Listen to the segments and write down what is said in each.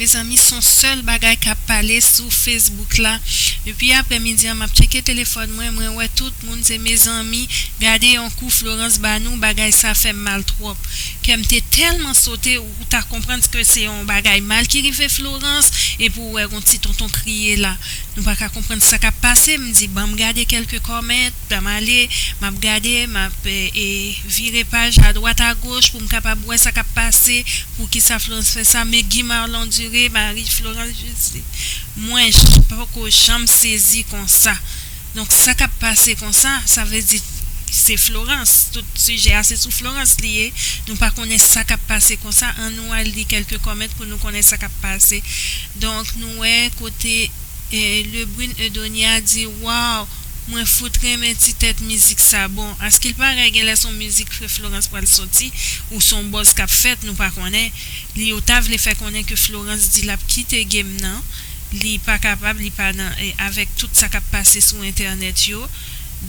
Mezanmi son sèl bagay kap pale sou Facebook la depi aprè midi an map tcheke telefòn mwen mwen wè tout moun se mezanmi gade yon kou Florence ba nou bagay sa fèm mal twòp kèm te tèlman sote ou ta konprann ske se yon bagay mal ki rive Florence epi ou wè yon ti tonton kriye la nou paka konprann sa kap pase mdi banm gade kèlke comment. Dam ale, m ap gade, m ap vire paj adwat agoch pou m kapab wè sa k ap pase, pou ki sa Florence fè sa, men Guy Marlon Duré, mari Florence Jussy, mwen poko janm sezi konsa. Donk sa k ap pase konsa, sa vle di se Florence, tout sijè a se sou Florence li ye, nou pa konnen sa k ap pase konsa, an nou al li kèlke kòment pou nou konnen sa k ap pase. Donk nou wè kote Lebrun Eudonia di waw! Mwen fout renmen ti tèt mizik sa bon askil parèy genlè son mizik frè Florence pral sòti ou son bòz kap fèt nou pa konnen li ou ta vle fè konnen ke Florence di lap kite game nan li pa kapab li pa nan avèk tout sa kap pase sou entènèt yo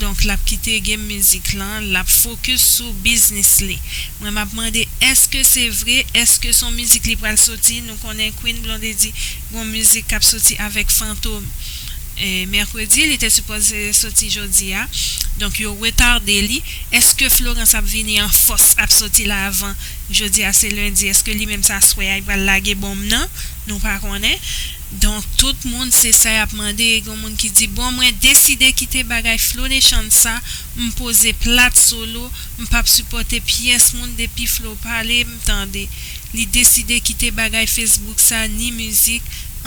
donk lap kite game mizik lan lap focus sou biznis li mwen map mande èske se vre èske son mizik li pral sòti nou konnen Queen Blondedy Gon mizik kap soti avèk fantom mèkredi li te sipoze soti jodi a donk yo retarde li eske florans ap vini an fòs ap soti la avan jodi a se lendi eske li menm se aswè a li pral lage bonm nan nou pa konnen donk tout moun se sa yap mande gon moun ki di bon mwen deside kite bagay flo Deschann sa m poze plat solo m pap sipòte pyès moun depi flo pale m tande Li deside kite bagay Facebook sa ni mizik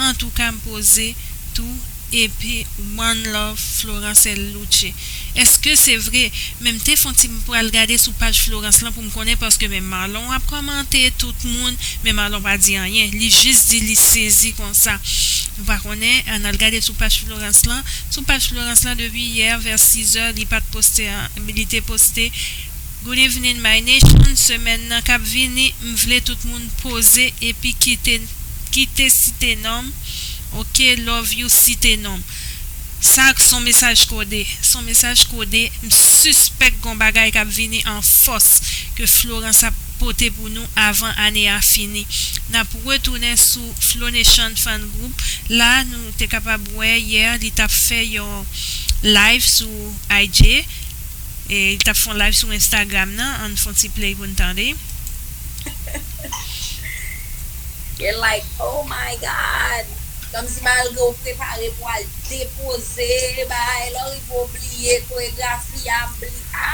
antouka m poze tou epi one love Florence Louche eske se vre men m te fon ti m pral gade sou paj Florence lan pou m konnen paske men Marlon ap kòmante tout moun men Marlon pa di anyen li jis di li sezi konsa nou pa konnen an al gade sou paj Florence lan sou paj Florence lan depi yè vè 6 è li pat poste li te poste Good evening my nation semèn nan kap vini m vle tout moun poze epi kite kite site nom ok love you site nom sa son mesaj kode son mesaj kode m sispèk gon bagay kap vini an fòs ke Florence ap pote pou nou avan ane a fini nap retounen sou Flonation fan group la nou te kapab wè yè li tap fè yon live sou IG. Li tap fon live sou Instagram nan ann fon ti play pou n tande. Gen like oh my God. Kamsi malgre ou prepare pou al depoze bagay la ou rive ou bliye koregrafi a m bli a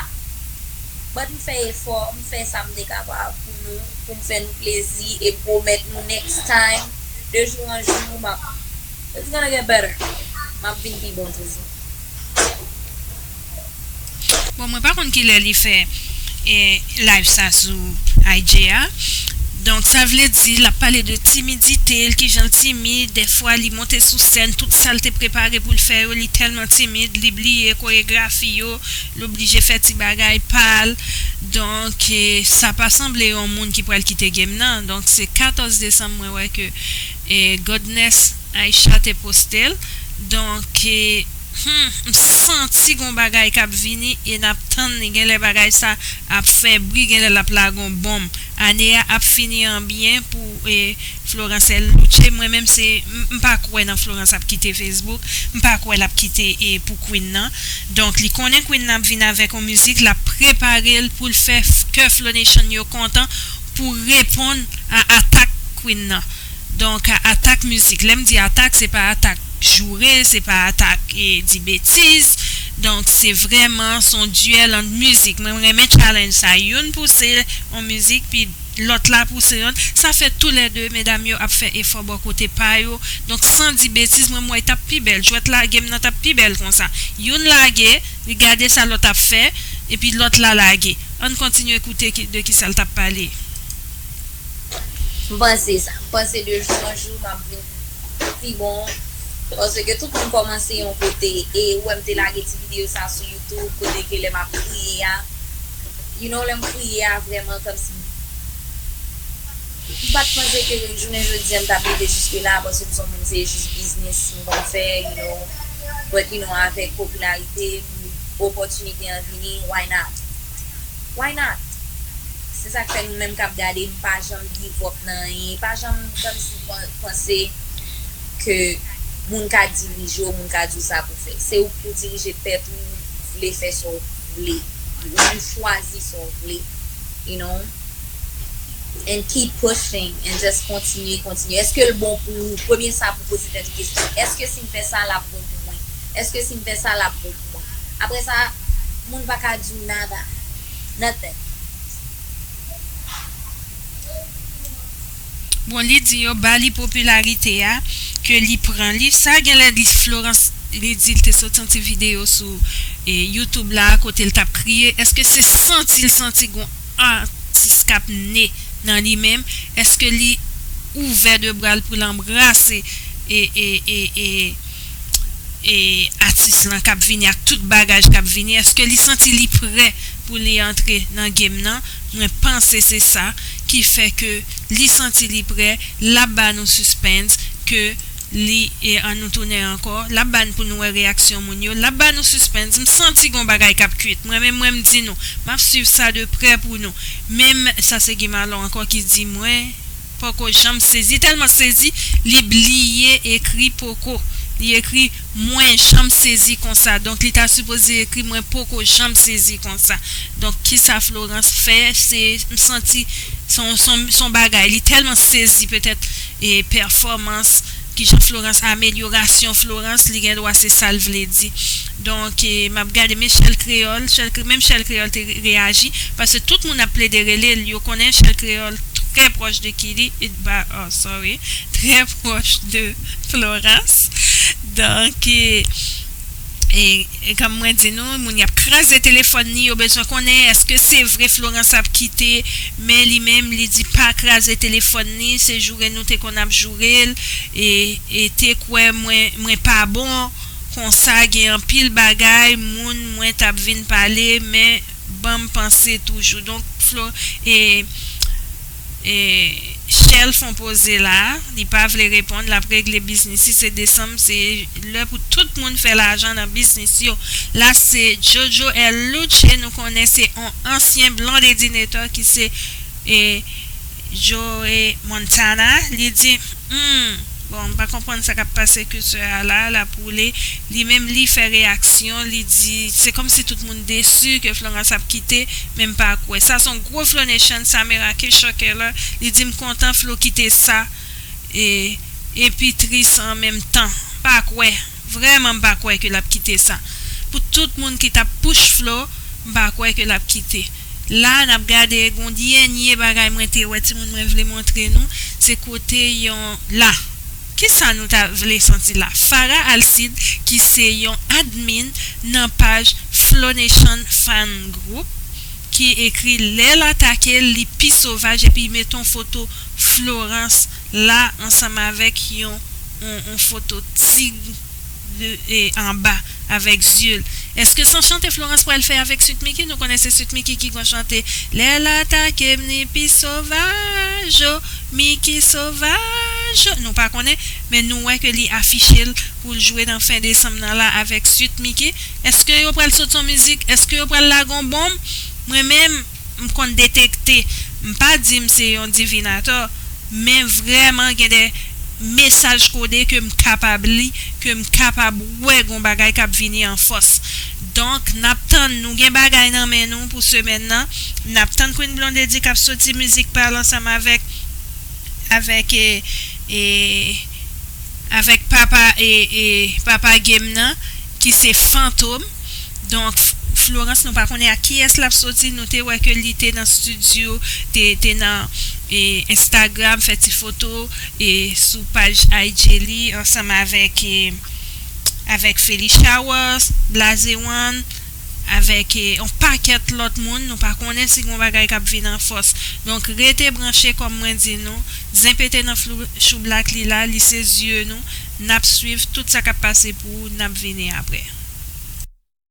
but m fè efò m fè sa m te kapab pou nou pou m fè nou plezi e pwomèt nou next time de jou an jou m ap it's gonna get better m ap vin pi bon toujou. Bon mwen pa konn kilè li fè live sa sou IG a donk sa vle di lap pale de timidite l kijanl timid dèfwa li monte sou sèn tout sal te prepare poul fè yo li tèlman timid li bliye koregrafi yo l oblije fè ti bagay pal donk sa pa sanble yon moun ki pral kite game nan donk se 14 desanm mwen wè ke Godness Aïcha te postel donk. Humm m santi gon bagay kap vini e nap tann li genlè bagay sa ap fè bri genlè lap lage yon bonm ane a ap fini an byen pou Florence el Noche mwen menm se m pa kwè nan Florence ap kite Facebook m pa kwè lap kite pou Queen nan donk li konnen Queen nan ap vin avèk yon mizik lap preparel poul fè kè Flonation yo kontan pou reponn a atak Queen nan donk a atak mizik lèm di atak se pa atak joure se pa atak di betiz donk se vrèman son duel ant mizik mwen renmen challenge sa youn pouse on mizik pi lòt la pouse yon sa fè tou lè 2 medam yo ap fè efò bò kote pa yo donk san di betiz mwen wè tap pi bèl jwèt lagem nan tap pi bèl konsa youn lage li gade sa lòt ap fè epi lòt la lage ann kontinye koute de kisa l tap pale. M panse sa. M panse de jou an jou map vin. Sa pi bon paske tout moun komanse yon kote e ou wèm te lage ti video sa sou YouTube kote ke lè map kriye a you know lèm kriye a vrèman kòmsi mpat panse ke jounen jodia mtap rive jiske la paske mson moun se jis biznis mkonn fè you know but you know avèk popilarite m opòtinite an vini why not why not se sak fè nou menm kap gadem pa janm give up nan anyen pajanm kòmsi. panse ke moun ka dirije w, moun ka di w sa pou w fè. Se ou ki pou dirije tèt ou, vle fè sa w vle, ou menm chwazi sa w vle, you know, and keep pushing, and just kontinye, kontinye. Eske l bon pou ou? Premye sa pou w poze tèt ou kesyon, eske si m fè sa l ap bon pou mwen? Eske si m fè sa l ap bon pou mwen? Apre sa, moun pa ka di w nada, nothing. Bon li di yo ba li popilarite a ke li pran li sa genlè li Florence li di li te soti yon ti video sou YouTube la kote li tap kriye eske se santi li santi gon atis kap ne nan li menm eske li ouvè 2 bra li poul anbrase e e e e. e atis lan kap vini ak tout bagaj kap vini eske li santi li prè pou li antre nan game nan mwen panse se sa ki fè ke li santi li prè lap ba nou suspens ke li e an nou tounen ankò lap ba n pou nou wè reyaksyon moun yo lap ba nou suspens m santi gon bagay kap kwit mwen menm mwen m di nou map swiv sa de prè pou nou menm sa se Gimalon ankò ki di mwen. Poko janm sezi telman sezi li bliye ekri poko li ekri mwen janm sezi konsa donk li ta sipoze ekri mwen poko janm sezi konsa donk kisa Florence fè se m santi son bagay li telman sezi petèt pèfòmans kijan Florence amelyorasyon Florence li gendwa se sal vle di Donk map gade men chèl kreyòl, menm chèl kreyòl te reyaji, paske tout moun ap plede rele l, yo konnen chèl kreyòl trè pwòch de Kili, sorry, trè pwòch de Florans, donk e kòm mwen di nou, moun y ap kraze telefòn li, yo bezwen konnen èske se vre Florans ap kite, men li menm li di pa kraze telefòn li, se joure nou te konn ap joure l, e te kwè mwen pa bon. Konsa gen anpil bagay moun mwen tap vin pale men banm panse toujou donk flo ee shell fon poze la li pa vle reponn lap regle biznis si se desanm se lè pou tout moun fè lajan nan biznis yo la se jojo el luce nou konnen se on ansyen blondedinator ki se ee Joe Montana li di humm bon m pa konprann sa kap pase culture a la lap woule li menm li fè reyaksyon li di se komsi tout moun desu ke Florence ap kite men m pa kwè sa son gwo Flo Nation sa me rake choke lè li di m kontan Flo kite sa e epi tris an menm tan pa kwè. Vrèman m pa kwè ke lap kite sa pou tout moun ki tap push Flo m pa kwè ke lap kite la nap gade gon dyenye bagay mwen te wè timoun mwen vle montre nou se kote yon la kisa nou ta vle santi la Farah Alcide ki se yon admin nan paj Flonation fan group ki ekri lèl atake li pi sovaj epi met on foto Florence la ansanm avèk yon yon foto tig e anba avèk zyeul eske son chante Florence pral fè avèk sweet micky nou konnen se sweet micky ki gon chante lèl atakem li pi sovaj o micky sovaj o nou pa konnen men nou wè ke li afichel poul jwe nan fen desanm nan la avèk sweet micky eske yo pral sot son mizik eske yo pral lage yon bonm mwen menm m konn detekte, m pa di m se yon divinatò, men vrèman gen de mesaj kode ke m kapab li, ke m kapab wè gon bagay k ap vini an fòs. Donk, n ap tann, nou gen bagay nan men nou pou semèn nan, n ap tann Queen Blondedy k ap soti mizik pa l ansanm avèk avèk e. Avèk papa papa game nan ki se fantom donk Florence nou pa konnen ak kiyès lap soti nou te wè ke li te nan studio te nan Instagram fè ti foto sou paj IG li ansanm avèk Felly Showers Blaze One. avèk yon pakèt lòt moun nou pa konnen si gon bagay kap vin an fòs donk rete branche kòm mwen di nou zen pete nan flou choublak li la li se zye nou nap swiv tout sa kap pase pou nap vini aprè.